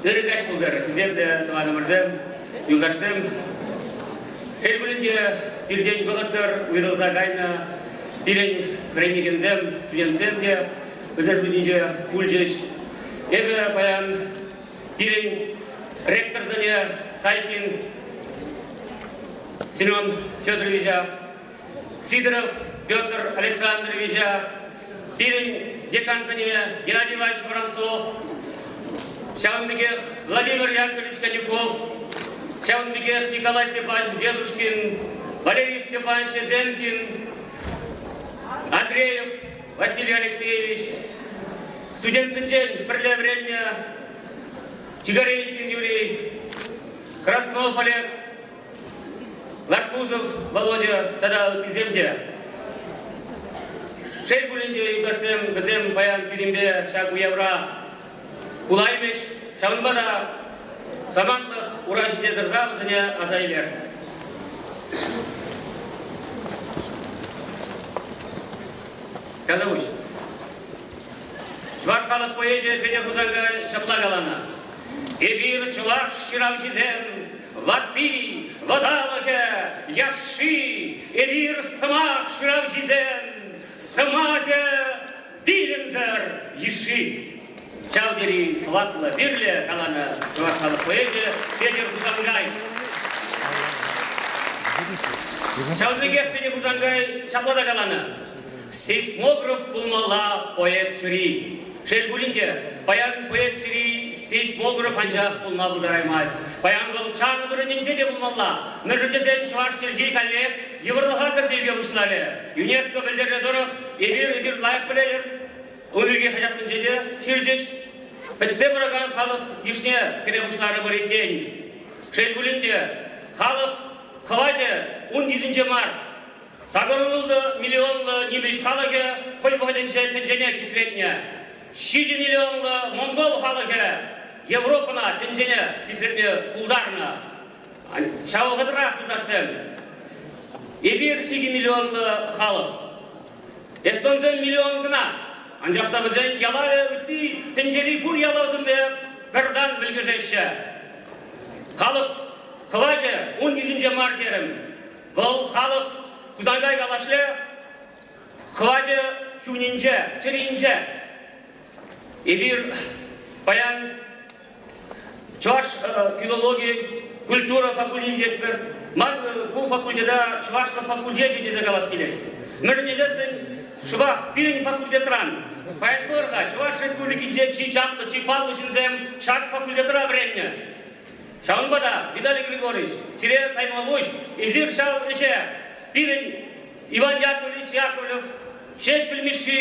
Ырӑ каҫ пултӑр, хисеплӗ тӑванӑмӑрсем, юлташсем. Хӗл пулин те пиртен вӑхӑтсӑр уйрӑлса кайнӑ пирӗн вӗренекенсем, студентсем те вӗсен шутӗнче пулчӗҫ. Эпӗ паян пирӗн ректорсене Сайкин Семен Федоровича Сидоров Петр Александровича, пирӗн декансене Геннадий Иванович Воронцов, ҫавӑн пекех Владимир Яковлевич Конюков, ҫавӑн пекех Николай Степанович Дедушкин, Валерий Степанович Эзенкин, Андреев Василий Алексеевич, студентсенчен пӗрле вӗреннӗ Тигорейкин Юрий, Краснов Олег Маркусов Володя тата ыттисем те. Шел пулин те, юлташсем, вӗсем паян пирӗнпе ҫак уявра пулаймӗҫ. Ҫавӑнпа та самантлӑх ура ҫине тӑрса вӗсене аса илер. Казаvuç. Чӑваш халӑх поэчӗ Петӗр Хусанкай ҫапла каланӑ. Эпир чӑваш ҫыравҫисем Ватти, вӑталӑхӗ, яшши, эпир сӑмах шыравҫисем, сӑмахӗ вилӗмсӗр йышши. Ҫав тери хӑватлӑ, вирлӗ каланӑ чӑваш халӑх поэчӗ Петӗр Хусангай. Ҫавӑн пекех Петӗр Хусангай ҫапла та каланӑ. Сейсмограф пулмалла поэт чури. Шел пулин те, паян поэт чури сейсмограф анчах пулма пултараймасть. Паян вӑл чан вырӑнӗнче те пулмалла. Мӗншӗн тесен чӑваш чӗлхи каллех йывӑрлӑха кӗрсе ӳке пуҫларӗ. ЮНЕСКО пӗлтернӗ тӑрӑх, эпир эсир лайӑх пӗлетӗр. Ун пирки хаҫатсенче те ҫырчӗҫ. Пӗтсе пыракан халӑх йышне кӗме пуҫларӑмӑр иккен. Шел пулин те, халӑх хӑвачӗ ун йышӗнче мар. Сакӑр ултӑ миллионлӑ нимӗҫ халӑхӗ хӑй вӑхӑтӗнче тӗнчене кисретнӗ. Ҫичӗ миллионлӑ монгол халӑхӗ Европӑна тӗнчене кисретме пултарнӑ. Ҫав вӑхӑтрах, юлташсем, эпир икӗ миллионлӑ халӑх. Эстонсем миллион кӑна, анчах та вӗсен ялавӗ ытти тӗнчери пур ялавсемпе пӗр тан мӗлкӗшеҫҫӗ. Халӑх хӑвачӗ ун йышӗнче мар терӗм. Вӑл халӑх Хусанкай Калашле хӑвачӗ ҫумӗнче, чӗринче. Эпир паян чӑваш филологи, культура факультетӗпӗр. Ман ку факультета чӑвашлӑх факультечӗ тесе калас килет. Мӗншӗн тесессӗн шӑпах пирӗн факультетран паян пар-ха Чӑваш Республикинче чи чаплӑ, чи паллӑ ҫынсем ҫак факультетра вӗреннӗ. Ҫавӑнпа та, Виталий Григорьевич, сире каймалпуҫ, эсир ҫав ӗҫе пирӗн Иван Яковлевич Яковлев, Ҫеҫпӗл Мишши,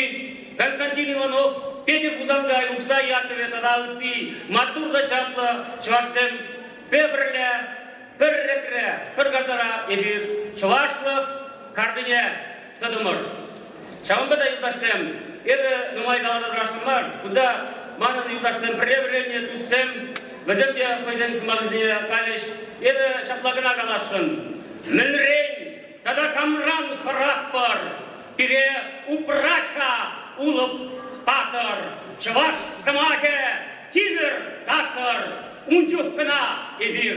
Константин Иванов, Петӗр Хусанкай, Ухсай Яковлев тата ытти маттур та чаплӑ чӑвашсемпе пӗрле пӗр ретре, пӗр картара эпир чӑвашлӑх картине тытӑмӑр. Ҫавӑнпа та, юлташсем, эпӗ нумай каласа тӑрасшӑн мар, кунта манӑн юлташсем пӗрре вӗреннӗ туссем, вӗсем те хӑйсен сӑмахӗсене калӗҫ. Эпӗ ҫапла кӑна каласшӑн, мӗнрен тата камран хӑратпӑр? Пире упрать-ха Улӑп патӑр, чӑваш сӑмахӗ тимӗр такӑр, ун чух кӑна эпир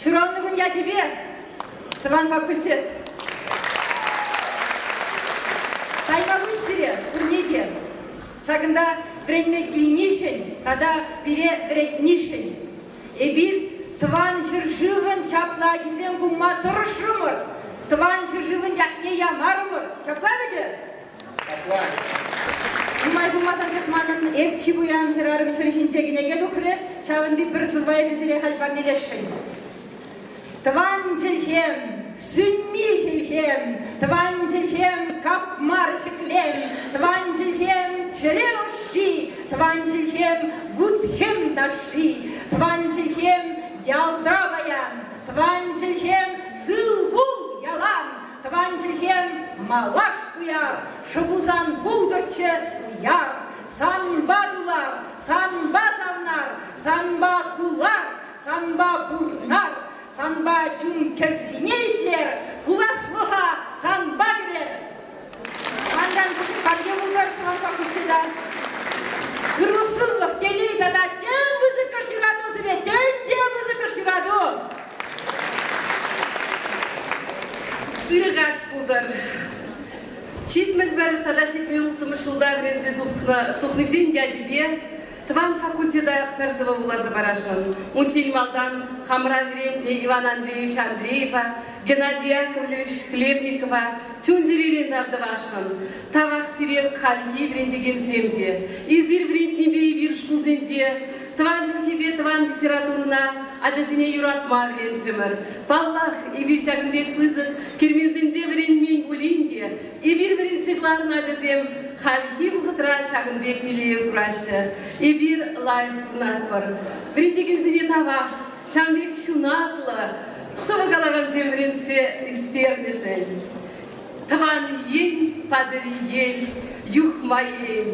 Ҫуралнӑ кун ячӗпе тӑван факультет. Таймапуҫ сире пурне те. Ҫакӑнта вӗренме килнишӗн тата пире вӗрентнишӗн эпир тӑван ҫӗршывӑн чаплӑ ачисем пулма тӑрӑшрӑмӑр. Тӑван ҫӗршывӑн ятне ямарӑмӑр. Ҫапла вӗтӗ? Нумай пулмасан тех манӑн эп чи пуян хӗрарӑм ҫӗр ҫинче кӗнеке тухрӗ, ҫавӑнти пӗр сӑввайӗ сире халь парнелесшӗн. Тӑван чӗлхем, сӳнми хӗлхем, тӑван чӗлхем, капмар ҫӗклем, тӑван чӗлхем, чӗре ӑшши, тӑван чӗлхем, вут-хӗм ташши, тӑван чӗлхем, ялта паян, тӑван чӗлхем, сылкул ялан, Тӑван чӗлхем малаш туяр, Шӑпусан пултӑрччӗ уяр. Санпа тулар, санпа савнар, Санпа кулар, санпа пурнар, Санпа чун кӗввине итлер, Пуласлӑха санпа кӗрер. Санран пуҫкарне пултӑр тӑванпа куччеда. Ырусызлӑх, телей тата тем пысӑккӑш юрату сире, тем те пысӑккӑш юрату. Ырӑ каҫ пултӑр. Ҫитмӗлпӗр тата ҫитмен улттӑмӗш ҫулта вӗренсе тухнисен ячӗпе тӑван факультета пӗр сӑвӑ вуласа парасшӑн. Унччен малтан хамӑра вӗрентнӗ Иван Андреевич Андреева, Геннадий Яковлевич Хлебникова чун-чӗререн тав тӑвасшӑн. Тавах сире хальхи вӗрентекенсем те. Эсир вӗрентнипе эпир шкулсенче Тӑван чӗлхепе тӑван литературӑна ачасене юратма вӗрентрӗмӗр. Паллах, эпир ҫакӑн пек пысӑк керменсенче вӗренмен пулин те, эпир вӗрентсе кӑларнӑ ачасем хальхи вӑхӑтра ҫакӑн пек телее кураҫҫӗ. Эпир лайӑх пурӑнатпӑр. Вӗрентекенсене тавах ҫавӑн пек ҫунатлӑ сӑвӑ калакансем вӗрентсе ӳстернӗшӗн. Тӑван ен, патӑр ел, юхма ен.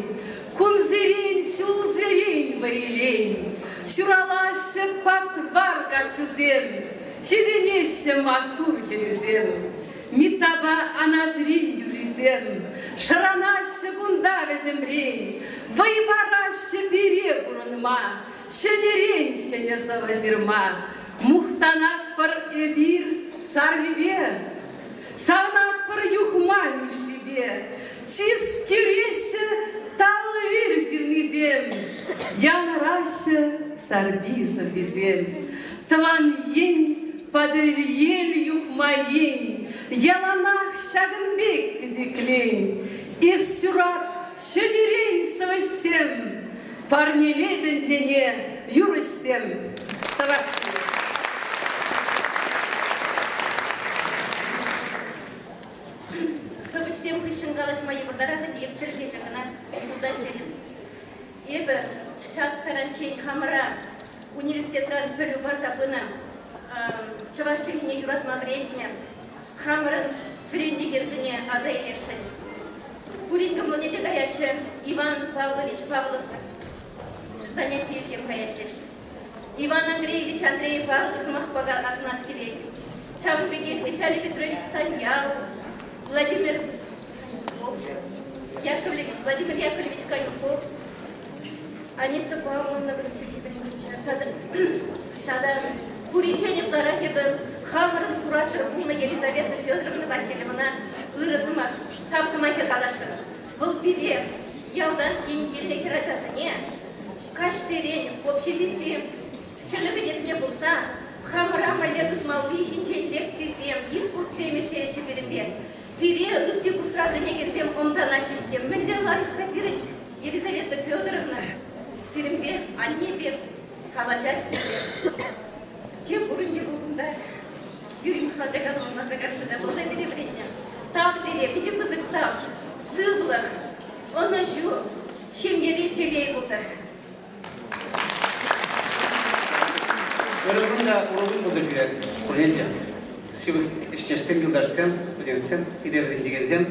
Кунсерен, ҫулсерен, вӑйрен ҫуралаҫҫӗ патвар каччусем, ҫитӗнеҫҫӗ маттур хӗрӳсем. Митапа Анатри юррисем шӑранаҫҫӗ кунта вӗҫӗмрен, вӑй параҫҫӗ пире пурӑнма, ҫӗнӗрен ҫӗнӗ сӑвӑ ҫырма. Мухтанатпӑр эпир саррипе, савӑнатпӑр юхма Мишшипе. Чискереҫҫӗ талли ҫырнисем, Янӑраҫҫӗ сарпи сӑввисем. Тӑван ен, Патӑрьел юхма ен, Яланах ҫакӑн пек тетеклен. Эс ҫурат ҫӗнӗрен сӑвӑҫсем, Парнелетӗн сене юрӑҫсем. Тӑвас килет. Сӑвӑҫсем хыҫҫӑн калаҫма йывӑртарах ӗнтӗ, эп чӗлхеҫӗ кӑна шкулта ӗҫлетӗп. Эпӗ ҫак таранччен хамӑра университетран пӗлӳ парса пынӑ, чӑваш чӗлхине юратма вӗрентнӗ. Хамӑрӑн вӗрентекенсене аса илесшӗн. Пурин кӑмӑлне те каятчӗ Иван Павлович Павлов занятийӗсем каятчӗҫ. Иван Андреевич Андреева сӑмахпа каласанах килет. Ҫавӑн пекех Виталий Петрович Станьял, Владимир Яковлевич, Владимир Яковлевич Конюков, Аниса Павловна вӗренчӗ. Тата куриччен ытларах эпӗ хамӑрӑн куратор пулнӑ Елизавета Федоровна Васильевна ырӑ сӑмах, тав сӑмахӗ каласшӑн. Вӑл пире ялтан тен килнӗ хӗрачасене Каҫсерен общежитим хӗлле кӗтесне пырса хамӑра мӗнле тытмалли ҫинчен лекцисем, диспутсем ирттеретчӗ пирӗнпе. Пире ытти курсра вӗренекенсем ӑмсанатчӗҫ те мӗнле лайӑхха сирӗн, Елизавета Федоровна? Сирӗнпе анне пек калаҫать тесе. Тем пурин те пул кунта. Юрий Михайлович Аганович манса карчӑ та малта пире вӗреннӗ. Тав сире, питӗ пысӑк тав, сывлӑх, ӑнӑҫу, Ҫемьери телей пултӑр. Ырӑ кун та урӑ кун пултӑр сире пурне те. Ҫывӑх ӗҫтешсем, юлташсем, студентсем, пире вӗрентекенсем.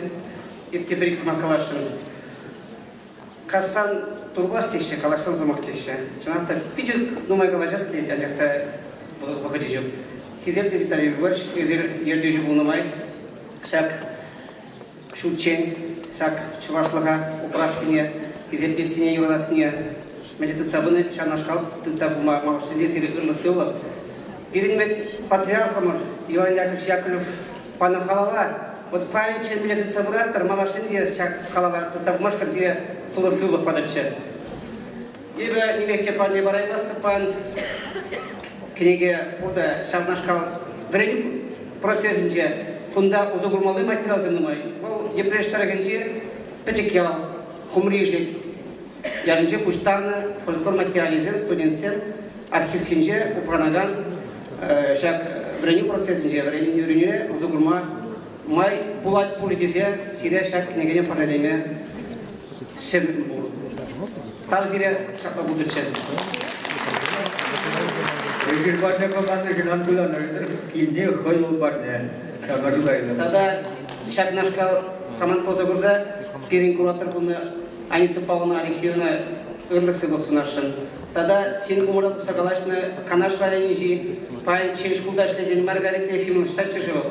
Эп пӗр-ик сӑмах каласшӑн. Кассан турпас теҫҫӗ, калаҫсан сӑмах теҫҫӗ. Чӑнах та питӗ нумай калаҫас килет, анчах та вӑхӑчӗ ҫук. Хисеплӗ Виталий Егорович, эсир ертӳҫӗ пулнӑ май ҫак ҫутчен ҫак чӑвашлӑха упрассине, хисеплессине, юратассине мӗнле тытса пыни ҫавнашкал тытса пыма махӑшсенче сире ырлӑх-сывлӑх. Пирӗн вӗт патриархӑмӑр Иван Яковлевич Яковлев панӑ халала вот паянччен мӗнле тытса пыраттӑр, малашне те ҫак халала тытса пымашкӑн сире тулӑ сывлӑх патӑрччӗ. Эпӗ нимехче парне параймастӑппан. Кӗнеке пурта ҫавнашкал вӗренӳ процесӗнче кунта усӑ курмалли материалсем нумай. Вӑл Йӗпреҫ тӑрӑхӗнчи Пӗчӗк ял, Хумри Ишек ялӗнче пуҫтарнӑ фольклор материалӗсем студентсем архивсенче упранакан ҫак вӗренӳ процесӗнче вӗренӳне усӑ курма май пулать пуль тесе сире ҫак кӗнекене парнелеме Ҫын пур. Тав сире ҫапла пултӑччӗ. Эсир парне паманнӑ кӑнан куланӑрсӑр кинне хӑй ул парне. Ҫавна шута Тата ҫакнашкал самант пулса курса пирӗн куратор кунӗ Аниса Павловна Алексеевна ырлӑх сывлӑх сунасшӑн. Тата син умӑра тухса калаҫнӑ Канаш районӗнчи паян ҫӗн шкулта ӗҫлекен Маргарита Ефимовна старччӗ-ши вӑл?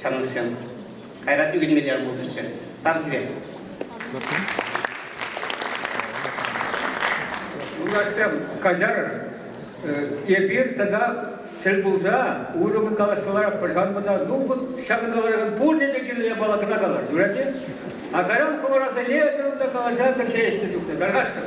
ҫамрӑксем. Кайран ӳкӗнмелле пултӑрччӗ. Тав сире. Юлташсем, каҫар. Эпир тата тӗл пулса уйрӑммӑн калаҫса ларатпӑр. Ҫавӑнпа та ну вот ҫакӑн тӑрӑхӑн пурне те килне япала кӑна калӑр. Юрать-и? А кайран хӑвӑрасене калаҫа тӗпчеҫнӗ чухне. Тархасшӑн.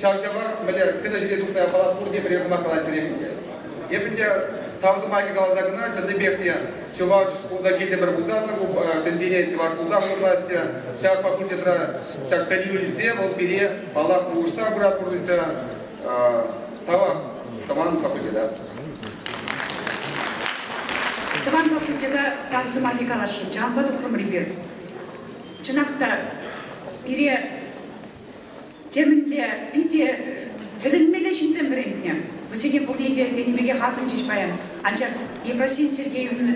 Ҫав-ҫавах мӗнле сцена ҫине тухнӑ япала пурте пӗрер сӑмах калаттерех ӗнтӗ. Эп ӗнтӗ тав сӑмахӗ каласа кӑна чӑннипех те чӑваш пулса килтӗмӗр пулсассӑн ку тӗнчене чӑваш пулса пурӑнасчӗ. Ҫак факультетра ҫак пӗлӳ илсе вӑл пире паллах улӑштарса пырать пурнӑҫа. Тавах тӑван факультета. Тӑван факультета тав сӑмахӗ каласшӑн чанпа тухрӑмӑр эпир. Чӑнах та пире Темӗнле питӗ тӗлӗнмелле ҫынсем вӗрентнӗ. Вӗсене пурне те тенӗ пекех асӑнчӗҫ паян. Анчах Ефросин Сергеевна,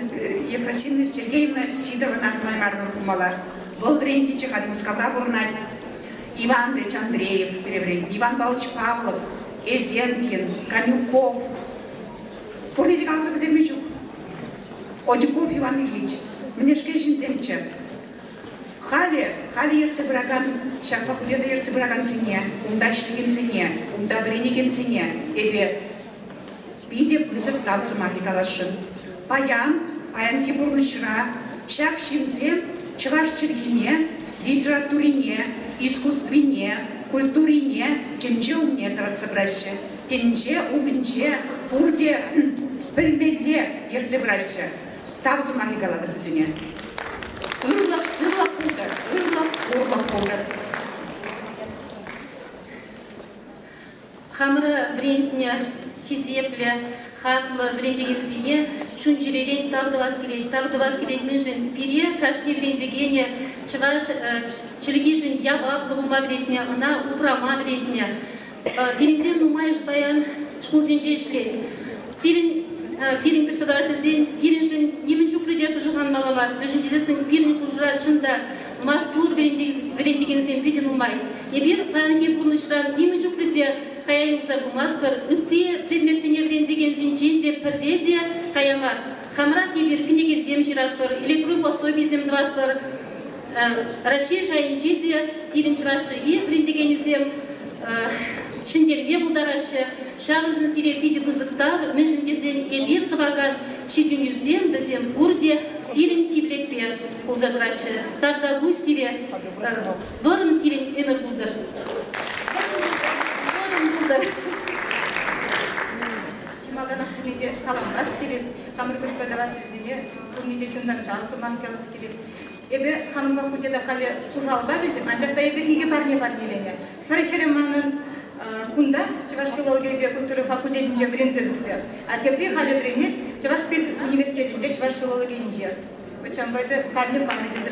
Ефросина Сергеевна Сидовӑн асӑнаймарӑмӑр пулмалла. Вӑл вӗрентнӗччӗ, халь Мускавра пурӑнать. Иван Ильич Андреев переврен, Иван Павлович Павлов, Эзенкин, Конюков. Пурне те каласа пӗтерме ҫук. Одюков Иван Ильич, мӗнешкел ҫынсемччӗ. Халӗ, халӗ ертсе пыракан ҫак факультета ертсе пыракансене, унта ӗҫлекенсене, унта вӗренекенсене эпӗ питӗ пысӑк тав сӑмахӗ каласшӑн. Паян, паянхи пурнӑҫра ҫак ҫынсем чӑваш чӗлхине, литературине, искусствине, культурине тӗнче умне тӑратса пыраҫҫӗ. Тӗнче умӗнче пурте пӗлмелле ертсе пыраҫҫӗ. тав сӑмахӗ калатӑр вӗсене. Ырлӑх, сывлӑх пултӑр, ырлӑх, пурлӑх пултӑр. Хамӑра вӗрентнӗ хисеплӗ, хаклӑ вӗрентекенсене чун-чӗререн тав тӑвас килет. Тав тӑвас килет мӗншӗн? Пире, кашни вӗрентекене, чӑваш чӗлхишӗн яваплӑ пулма вӗретнӗ, ӑна упрама вӗретнӗ. Пирӗнтен нумайӑш паян шкулсенче ӗҫлет. Сирӗн пирӗн преподавательсен пирӗншӗн нимӗн чухлӗ те пӑшӑрханмалла мар, вӗҫӗм тесессӗн пирӗн хушӑра чӑн та маттур вӗрентекенсем питӗ нумай. Эпир паянхи пурнӑҫран нимӗн чухлӗ те кая юлса пымастпӑр. Ытти предметсене вӗрентекенсенчен те пӗрре те кая мар. Хамӑрах эпир кӗнекесем ҫыратпӑр, электрон пособисем тӑватпӑр. Раҫҫей шайӗнче те пирӗн чӑваш чӗлхи вӗрентекенӗсем ҫӗнтерме пултараҫҫӗ. Ҫавӑншӑн сире питӗ пысӑк тав, мӗншӗн тесен эпир тӑвакан ҫитӗнӳсем вӗсем пурте сирӗн тимлӗхпе пулса тӑраҫҫӗ. Тавтапуҫ сире, вӑрӑм сирӗн ӗмӗр пултӑр. Вӑрӑм пултӑр. Чи малтанах пурне те саламлас килет, хамӑр тӗп федерацисене пурне те чунтан тав сумах калас килет. Эпӗ хамӑн факультета халӗ служалӑпа килтӗм, анчах та эпӗ икӗ парне парнеленӗ. Пӗр хӗрӗ манӑн кунта Чӑваш филологийӗпе культура факультетӗнче вӗренсе тухрӗ, а тепри халӗ вӗренет Чӑваш педуниверситетӗнче чӑваш филологийӗнче. Вӑт ҫавӑнпа эпӗ парне панӑ тесе